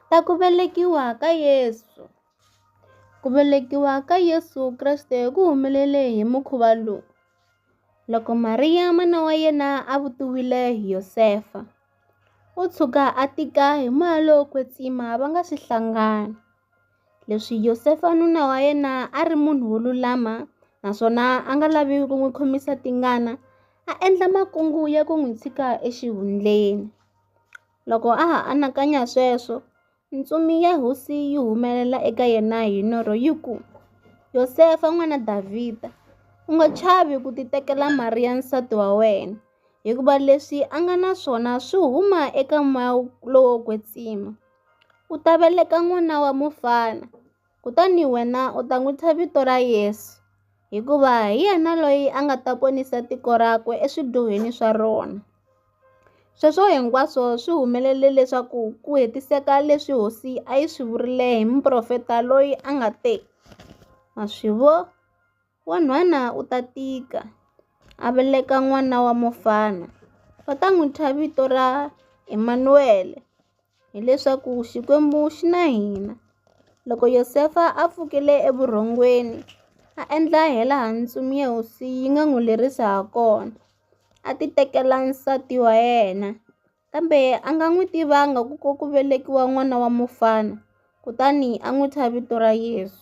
Ta ku velekiwa ka Yesu Ku velekiwa ka Yesu Kreste ku humelele hi mukhuva lowu. Loko Mariya mana wa yena a vutiwile hi Yosefa, u tshuka a tika hi moya lowo kwetsima va nga si hlangana. Leswi Yosefa nuna wa yena a ri munhu wo lulama naswona a nga lavi ku n'wi khomisa tingana, a endla makungu ya ku n'wi tshika exihundleni. Loko a ha anakanya sweswo, ntsumi ya hosi yi humelela eka yena hi norho yi ku, Yosefa n'wana Davhida, u nga chavi ku titekela Mariya nsati wa wena, hikuva leswi a nga na swona swi huma eka moya lowo kwetsima. U ta veleka n'wana wa mufana. Kutani wena u ta n'wi thya vito ra Yesu, hikuva hi yena loyi a nga ta ponisa tiko rakwe eswidyohweni swa rona. Sweswo hinkwaswo swi humelele leswaku ku hetiseka leswi hosi a yi swi vurile hi muprofeta loyi a nga te, Ma swi vo? Wa nhwana u ta tika, a veleka n'wana wa mufana. Va ta n'wi thya vito ra Emanuwele, hileswaku Xikwembu xi na hina. Loko Yosefa a pfukile evurhongweni, a endla hilaha ntsumi ya hosi yi nga n'wi lerisa hakona, a titekela nsati wa yena. Kambe a nga n'wi tivanga ku ku velekiwa n'wana wa mufana, kutani a n'wi thya vito ra Yesu.